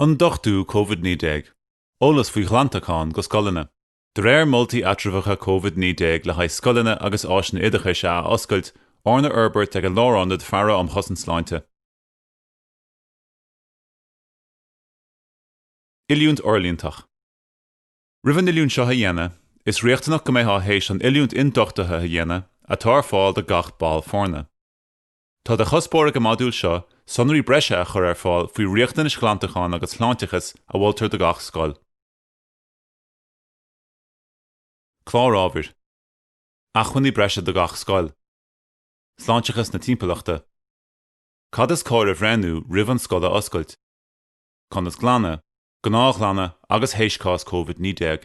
Ionduchtú covid 19, eolas faoi ghlantacháin go scoileanna. De réir moltaí eatramhacha covid 19 le haghaidh scoileanna agus áiseanna oideachais a athoscailt, arna fhorbairt ag an Lárionad Faire um Chosaint Sláinte, Oiliúint fhorlíontach, Roimh an oiliúint seo a dhéanamh, is riachtanach go mbeifeá théis an oiliúint ionduchtaithe a dhéanamh, atá ar fáil do gach ball foirne. Tá de chuspóir ag an modúl seo sonraí breise a chur ar fáil faoi riachtanais ghlantacháin agus shláinteachais a mholtar do gach scoil. Clár ábhair, Acmhainní breise do gach scoil. Sláinteachas na timpeallachta. Cad is cóir a bhreithniú roimh an scoil a athoscailt. Conas glanadh, gnáthghlanadh agus théis cás Covid 19.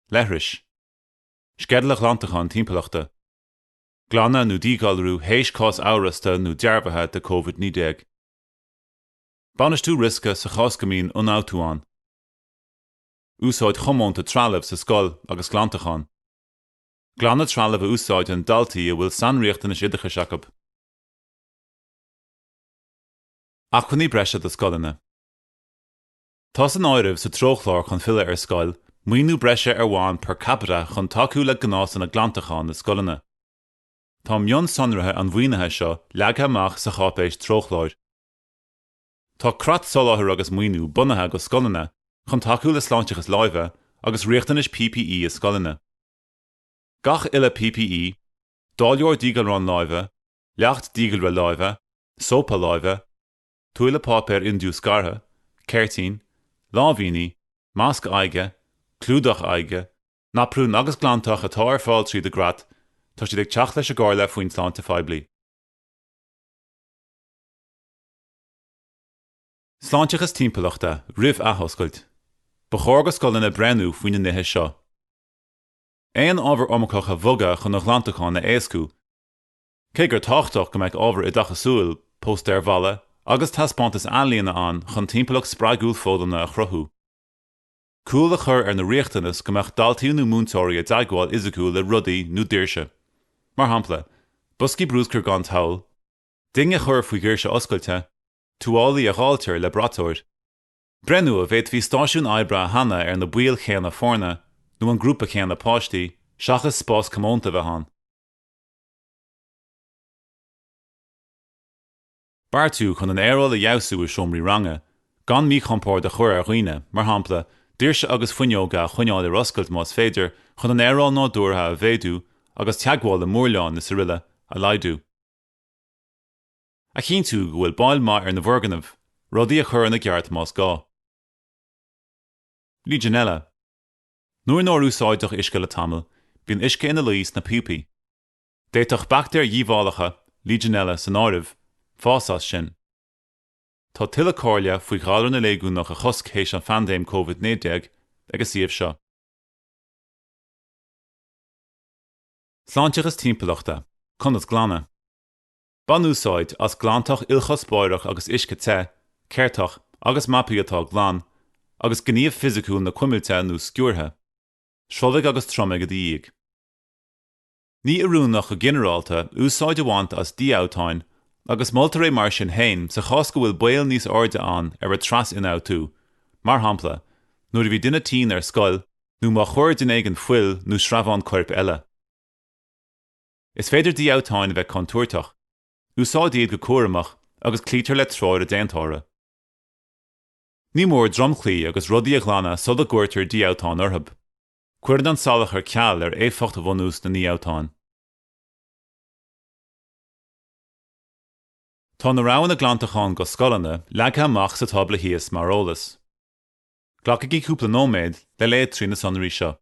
Leithris. Sceideal an ghlantacháin timpeallachta. glanadh nó díghalrú théis cás amhrasta nó dearbhaithe de covid 19. bainistiú riosca sa chás go mbíonn ionfhabhtú ann. úsáid chomónta trealaimh sa scoil agus glantachán. glanadh trealaimh a úsáideann daltaí a bhfuil sainriachtanais oideachais acu. acmhainní breise do scoileanna. Tá san áireamh sa treochlár chun filleadh ar scoil, maoiniú breise ar bhonn per capita chun tacú le gnásanna glantacháin na scoileanna. Tá mionsonraithe an mhaoinithe seo leagtha amach sa cháipéis treochláir. Tá creat soláthair agus maoiniú bunaithe go scoileanna chun tacú le sláinteachas láimhe agus riachtanais PPE i scoileanna. Gach uile PPE, dáileoir díghalráin láimhe, leacht díghalraithe láimhe, sópa láimhe, tuáille páipéir indiúscartha, ceirtín, láimhíní, masc aghaidhe, clúdach aghaidhe, naprún agus glantach atá ar fáil tríd an gcreat, tá siad ag teacht leis an gcomhairle faoin tsláinte phoiblí. Sláinteachas Timpeallachta roimh athoscailt, ba chóir go scoileanna breathnú faoi na nithe seo. Aon ábhar iomarcach a bhogadh chun an ghlantacháin a éascú, Cé gur tábhachtach go mbeadh ábhar oideachasúil, póstaeir bhalla agus taispeántais ealaíne ann chun timpeallacht spreagúil foghlama a chruthú, cúl a chur ar na riachtanas go mbeadh daltaí nó múinteoirí i dteagmháil fhisiciúil le rudaí nó doirse, mar shampla, boscaí brúscair gan tadhall, ding a chur faoi dhoirse oscailte, tuáillí a dháiltear le braiteoir. Breithniú an bhféadfaí stáisiún oibre a shannadh ar na baill chéanna foirne nó an grúpa céanna páistí, seachas spás comónta a bheith ann. Beartú chun an aeráil a fheabhsú i seomraí ranga, gan míchompord a chur ar dhaoine, mar shampla, doirse agus fuinneoga a choinneáil ar oscailt más féidir, chun an aeráil nádúrtha a mhéadú agus teagmháil le múrláin is aroile a laghdú. A chinntiú go bhfuil bail maith ar na foirgnimh, rudaí a chur ina gceart más gá. Legionella. Nuair nár úsáideadh uisce le tamall, bíonn uisce ina luí sna píopaí. D'fhéadfadh baictéir dhíobhálacha, Legionella san áireamh, fás as sin. Tá tuilleadh comhairle faoi ghalar na léigiúnach a chosc théis an phaindéim COVID-19 ag an suíomh seo. Sláinteachas Timpeallachta, Conas glanadh? Bain úsáid as glantach ilchuspóireach agus uisce te, ceirteacha agus mapaí atá glan, agus gníomh fisiciúil na cuimilte nó sciúrtha. Sruthlaigh agus triomaigh i do dhiaidh. Ní oiriúnach go ginearálta úsáid a bhaint as dífhabhtáin, agus moltar é mar sin féin sa chás go bhfuil baol níos airde ann ar thras-ionfhabhtú, mar shampla, nuair a bhí duine tinn ar scoil nó má chuir duine éigin fuil nó sreabhán coirp eile. Is féidir dífhabhtáin a bheith contúirteach. Úsáid iad go cúramach agus cloítear le treoir an déantóra. Ní mór dromchlaí agus rudaí a ghlanadh sula gcuirtear dífhabhtán orthu. Cuireann an salachar ceal ar éifeacht bhunús na ndífhabhtán. Tá na roghanna glantacháin do scoileanna leagtha amach sa tábla thíos mar eolas. Glacaigí cúpla nóiméad le léamh trí na sonraí seo.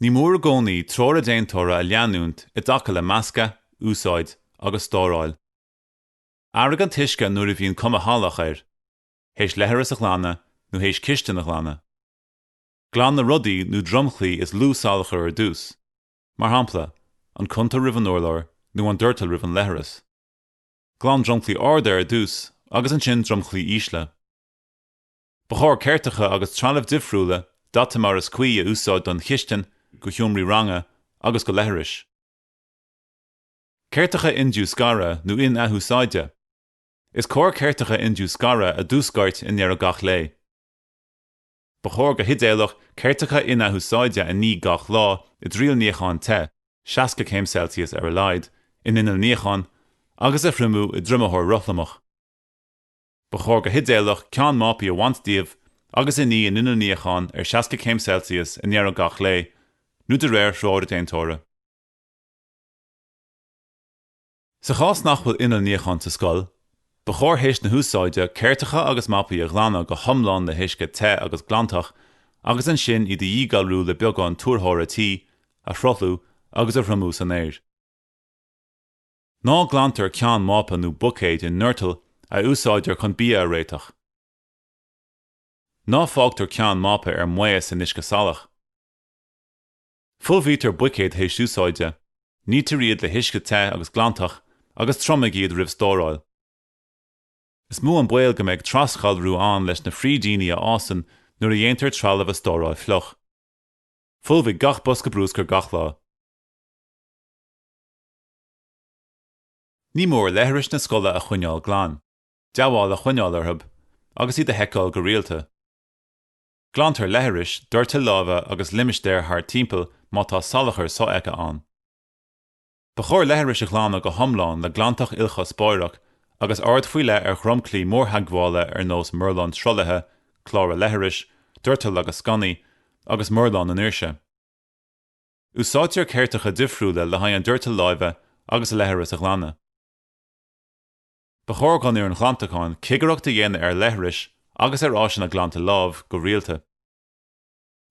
Ní mór i gcónaí treoir an déantóra a leanúint i dtaca le meascadh, úsáid agus stóráil. Athraigh an t-uisce nuair a bhíonn cuma shalach air, théis leithreas a ghlanadh nó théis cistin a ghlanadh. Glan na rudaí nó dromchlaí is lú salachar ar dtús, mar shampla, an cuntar roimh an urlár nó an doirteal roimh an leithreas. Glan dromchlaí arda ar dtús agus ansin dromchlaí ísle. Ba chóir ceirteacha agus trealamh difriúla daite mar is cuí a úsáid don chistin, do sheomraí ranga agus do leithris. Ceirteacha indiúscartha nó in-athúsáide, Is cóir ceirteacha indiúscartha a dhiúscairt i ndeireadh gach lae. Ba chóir go hidéalach ceirteacha in-athúsáide a ní gach lá i dtimthriall níocháin te, 60 céim Celsius ar a laghad, in inneall níocháin, agus a thriomú i dtriomaitheoir rothlamach. Ba chóir go hidéalach ceann mapaí a bhaint díobh agus a ní in inneall níocháin ar 60 céim Celsius i ndeireadh gach lae, nó de réir threoir an déantóra. Sa chás nach bhfuil inneall níocháin sa scoil, ba chóir théis na húsáide ceirteacha agus mapaí a ghlanadh go hiomlán le huisce te agus glantach agus ansin iad a dhíghalrú le beagán tuarthóra tí a shruthlú agus a thriomú san aer. Ná glantar ceann mapa nó buicéid i ndoirteal a úsáidtear chun bia a réiteach. Ná fágtar ceann mapa ar maos in uisce salach. Folmhaítear buicéid théis úsáide, nítear iad le huisce te agus glantach agus triomaigh iad roimh stóráil. Is mó an baol go mbeidh trasghalrú ann leis na frídíní a fhásann nuair a dhéantar trealamh a stóráil fliuch. Folmhaigh gach bosca bruscair gach lá. Ní mór leithris na scoile a choinneáil glan, dea-bhail a choinneáil orthu, agus iad a sheiceáil go rialta. Glantar leithris, doirteal láimhe agus limistéir thart timpeall má tá salachar sofheicthe ann. Ba chóir leithris a ghlanadh go hiomlán le glantach ilchuspóireach agus aird faoi leith ar dhromchlaí mórtheagmhála ar nós murláin sruthlaithe, clára leithris, doirtil agus sconnaí, agus murláin na ndoirse. Úsáidtear ceirteacha difriúla le haghaidh an doirteal láimhe agus an leithris a ghlanadh. Ba chóir don fhoireann ghlantacháin cigireacht a dhéanamh ar leithris agus ar áiseanna glanta lámh go rialta.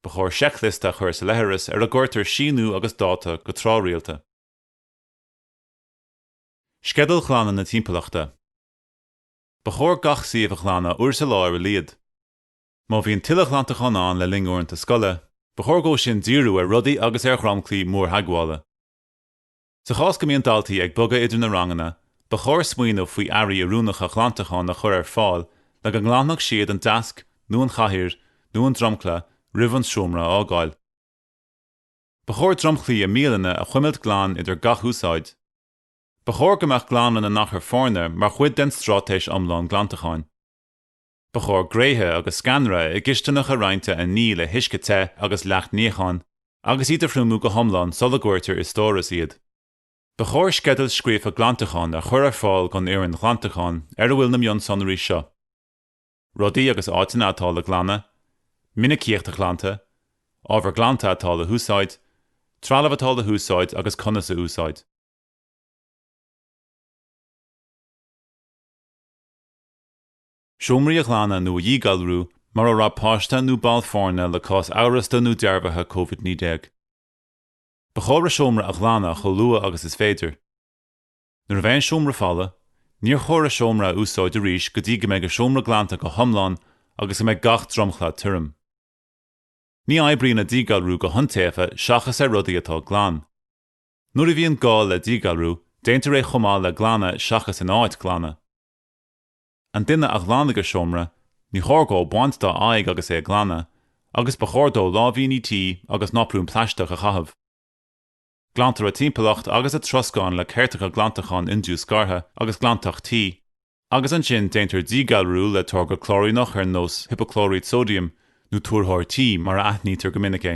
Ba chóir seicliosta a chur sa leithreas ar a gcuirtear síniú agus dáta go tráthrialta. Sceideal ghlanadh na timpeallachta. Ba chóir gach suíomh a ghlanadh uair sa lá ar a laghad. Má bhíonn tuilleadh ghlantacháin ann le linn uaireanta scoile, ba chóir dhó sin díriú ar rudaí agus ar dhromchlaí mórtheagmhála. Sa chás go mbíonn daltaí ag bogadh idir na ranganna, ba chóir smaoineamh faoi earraí oiriúnacha glantacháin a chur ar fáil le go nglanfadh siad an deasc nó an chathaoir nó an dromchla roimh an seomra a fhágáil. Ba chóir dromchlaí i mbialanna a chuimilt glan idir gach úsáid. Ba chóir go mbeadh glanadh na n-achar foirne mar chuid den straitéis iomlán glantacháin. Ba chóir gréithe agus sceanra i gcistineacha roinnte a ní le huisce te agus leacht níocháin, agus iad a thriomú go hiomlán sula gcuirtear i stóras iad. Ba chóir sceideal scríofa glantacháin a chur ar fáil don fhoireann ghlantacháin ar a bhfuil na mionsonraí seo, rudaí agus áiteanna atá le glanadh, minicíocht an ghlanta, ábhar glanta atá le húsáid, trealamh atá le húsáid agus conas a úsáid. Seomraí a ghlanadh nó a dhíghalrú mar a raibh páiste nó ball foirne le cás amhrasta nó dearbhaithe covid 19. Ba chóir an seomra a ghlanadh chomh luath agus is féidir. Nuair a bheidh an seomra folamh, níor chóir an seomra a úsáid arís go dtí go mbeidh an seomra glanta go hiomlán agus go mbeidh gach dromchla tirim. Ní oibríonn an díghalrú go hiontaofa seachas ar rudaí atá glan. Nuair a bhíonn gá le díghalrú, déantar é chomh maith le glanadh seachas in áit glanadh. An duine a ghlanfaidh an seomra, níor chóir dhó baint dá aghaidh agus é ag glanadh, agus ba chóir dó láimhíní tí agus náprún plaisteach a chaitheamh. Glantar an timpeallacht agus an troscán le ceirteacha glantacháin indiúscartha agus glantach tí, agus ansin déantar díghalrú le táirge clóiríneach ar nós hipeaclóirít sóidiam, nó tuarthóir tí mar a aithnítear go minic é.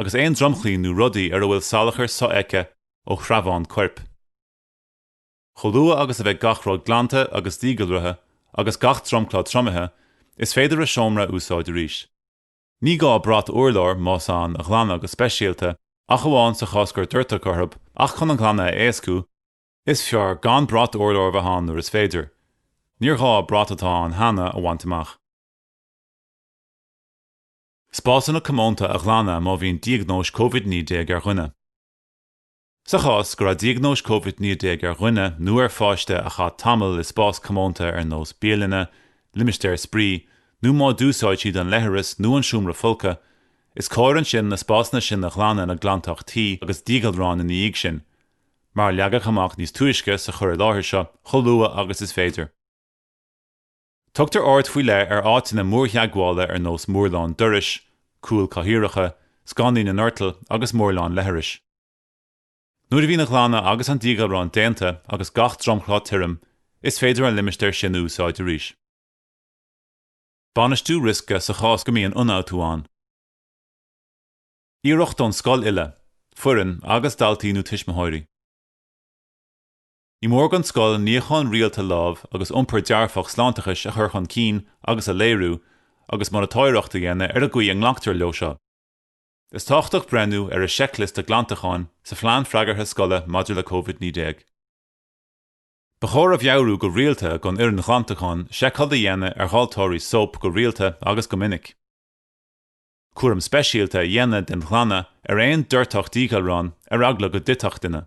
agus aon dromchlaí nó rudaí ar a bhfuil salachar sofheicthe ó shreabháin coirp. Chomh luath agus a bheidh gach rud glanta agus díghalraithe agus gach dromchla triomaithe, is féidir an seomra a úsáid arís. Ní gá brat urláir, más ann, a ghlanadh go speisialta ach amháin sa chás gur doirteadh orthu ach chun an glanadh a éascú, is fearr gan brat urláir a bheith ann nuair is féidir, níor ghá brat atá ann cheana a bhaint amach. Spásanna comónta a ghlanadh má bhíonn diagnóis Covid 19 ar dhuine Sa chás go raibh diagnóis Covid 19 ar dhuine nó ar pháiste a chaith tamall i spás comónta ar nós bialainne, limistéir spraoi nó má d'úsáid siad an leithreas nó an seomra folctha, is cóir ansin na spásanna sin a ghlanadh le glantach tí agus díghalrán ina dhiaidh sin, mar a leagadh amach níos túisce sa chur i láthair seo, chomh luath agus is féidir. Tugtar aird faoi leith ar áiteanna mórtheagmhála ar nós murlán dorais, cúil chathaoireacha, sconnaí na ndoirteal agus murlán leithris. Nuair a bhíonn an ghlanadh agus an díghalrán déanta agus gach dromchla tirim, is féidir an limistéar sin a úsáid arís. Bainistiú riosca sa chás go mbíonn ionfhabhtú ann. Iarracht ón scoil uile, foireann agus daltaí nó tuismitheoirí. Ní mór don scoil níochán rialta lámh agus iompar dearfach sláinteachais a chur chun cinn agus a léiriú, agus monatóireacht a dhéanamh ar an gcaoi a nglactar leo seo. Is tábhachtach breithniú ar an seicliosta glantacháin sa Phlean Freagartha Scoile maidir le covid 19. Ba chóir a mheabhrú go rialta don fhoireann ghlantacháin seiceáil a dhéanamh ar dháilteoirí sóip go rialta agus go minic. Cúram speisialta a dhéanamh den ghlanadh ar aon doirteadh díghalrán ar eagla go dtitfeadh duine.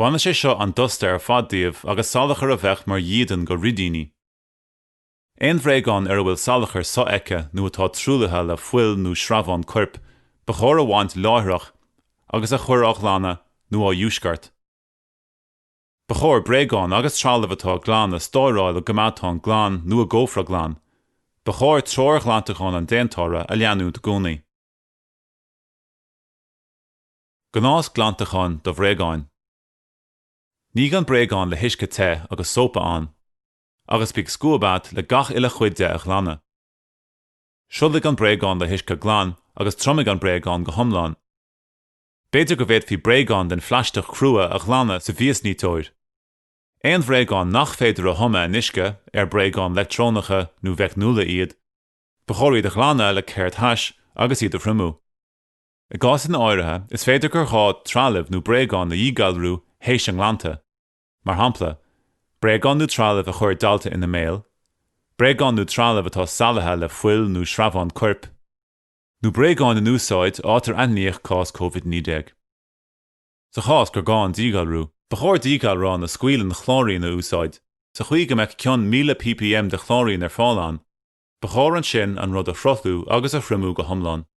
Bainfidh sé seo an dusta ar fad díobh agus salachar a bheadh mar dhídean do fhrídíní. Aon bhréagán ar a bhfuil salachar so-fheicthe nó atá truaillithe le fuil nó sreabháin coirp, ba chóir a bhaint láithreach agus a chur á ghlanadh nó á dhiúscairt. Ba chóir bréagáin agus trealamh atá glan a stóráil i gcoimeádán glan nó i gcófra glan. Ba chóir treoir ghlantacháin an déantóra a leanúint i gcónaí. Gnás glantacháin do bhréagáin. Nigh an bréagán le huisce te agus sópa ann, agus bíodh scuab agat le gach uile chuid de a ghlanadh. Sruthlaigh an bréagán le huisce glan agus triomaigh an bréagán go hiomlán. B'fhéidir go bhféadfaí bréagáin den phlaisteach crua a ghlanadh sa mhiasniteoir. Aon bhréagáin nach féidir a thumadh in uisce, ar bréagáin leictreonacha nó mheicniúla iad, ba chóir iad a ghlanadh le ceirt thais agus iad a thriomú. I gcásanna áirithe, is féidir gur ghá trealamh nó bréagáin a dhíghalrú théis a nglanta, mar shampla, bréagáin nó trealamh a chuir dalta ina mbéal, bréagáin nó trealamh atá salaithe le fuil nó sreabháin coirp, nó bréagáin in úsáid áit ar aithníodh cás COVID-19. Sa chás gur gá an díghalrú. Ba chóir díghalrán a scaoileann clóirín a úsáid, sa chaoi go mbeadh cion 1000 ppm de chlóirín ar fáil ann. Ba chóir ansin an rud a shruthlú agus a thriomú go hiomlán.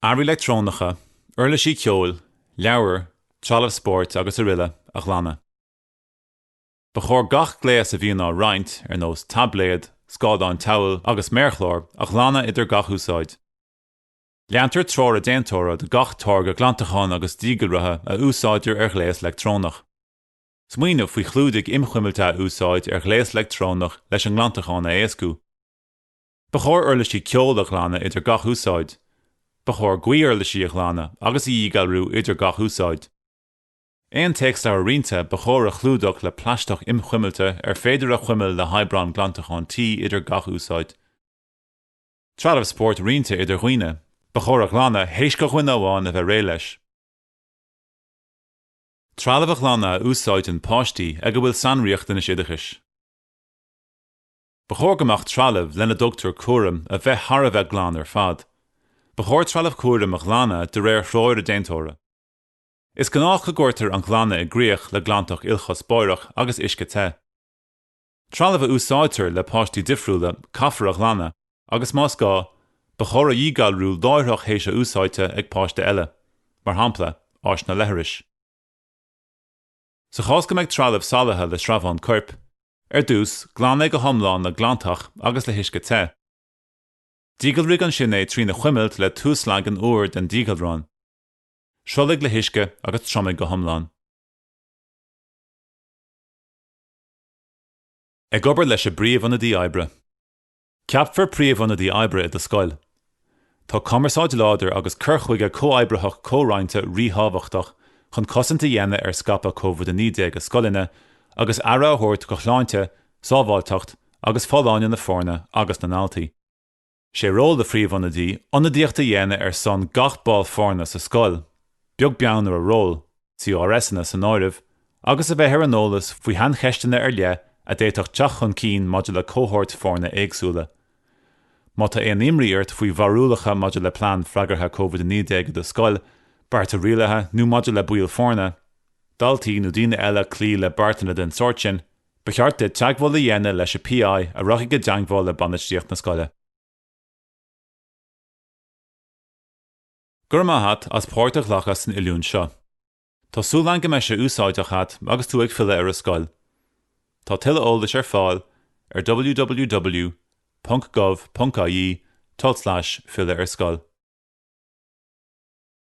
Earraí leictreonacha, uirlisí ceoil, leabhair, trealamh spóirt agus araile a ghlanadh. Ba chóir gach gléas a bhíonn á roinnt, ar nós taibléad, scáileán tadhaill agus méarchlár, a ghlanadh idir gach úsáid. Leantar treoir an déantóra do gach táirge glantacháin agus díghalraithe a úsáidtear ar ghléas leictreonach. Smaoineamh faoi chlúdaigh inchuimilte a úsáid ar ghléas leictreonach leis an nglantachán a éascú. Ba chóir uirlisí ceoil a ghlanadh idir gach úsáid. Ba chóir gaothuirlisí a ghlanadh agus a dhíghalrú idir gach úsáid. Aon téacsleabhar roinnte ba chóir a chlúdach le plaisteach inchuimilte ar féidir a chuimilt le hoibreán glantacháin tí idir gach úsáid. Trealamh spóirt roinnte idir dhaoine, ba chóir a ghlanadh théis do dhuine amháin a bheith réidh leis. Trealamh a ghlanadh a úsáideann páistí ag a bhfuil sainriachtanais oideachais. Ba chóir do gach trealamh lena dtugtar cúram a bheith thar a bheith glan ar fad. Ba chóir trealamh cúraim a ghlanadh de réir threoir an déantóra. Is gnách go gcuirtear an glanadh i gcrích le glantach ilchuspóireach agus uisce te. Trealamh a úsáidtear le páistí difriúla caithfear a ghlanadh agus más gá, ba chóir a dhíghalrú láithreach théis a úsáidte ag páiste eile, mar shampla, áiseanna leithris. Sa chás go mbeidh trealamh salaithe le sreabháin coirp, ar dtús, glan é go hiomlán le glantach agus le huisce te. Díghalraigh ansin é trína chuimilt le tuaslagan úr den díghalrán. Sruthlaigh le huisce agus triomaigh go hiomlán. Ag obair leis an bpríomh-ionadaí oibre. Ceapfar príomh-ionadaí oibre i do scoil. Tá cumarsáid láidir agus cur chuige comhoibritheach comhroinnte ríthábhachtach chun cosaint a dhéanamh ar scaipeadh COVID-19 i scoileanna agus aire a thabhairt do shláinte, sábháilteacht agus folláine na foirne agus na ndaltaí. Sé ról do phríomh-ionadaí ionadaíocht a dhéanamh ar son gach ball foirne sa scoil, beag beann ar a ról. CRSanna san áireamh, agus a bheith ar an eolas faoi shaincheisteanna ar leith a d'fhéadfadh teacht chun cinn maidir le cohóirt foirne éagsúla. Má tá aon imní ort faoi bharúlacha maidir le Plean Freagartha COVID-19 i do scoil, bearta rialaithe nó maidir le baill foirne, daltaí nó daoine eile cloí le beartanna den sórt sin, ba cheart duit teagmháil a dhéanamh leis an PI a rachaidh i dteagmháil le bainistíocht na scoile. Go raibh maith a't as páirt a ghlacadh san oiliúint seo. Tá súil agam go mbeidh sé úsáideach a't agus tú ag filleadh ar an scoil. Tá tuilleadh eolais ar fáil ar www.gov.ie tulslais filleadharscoil.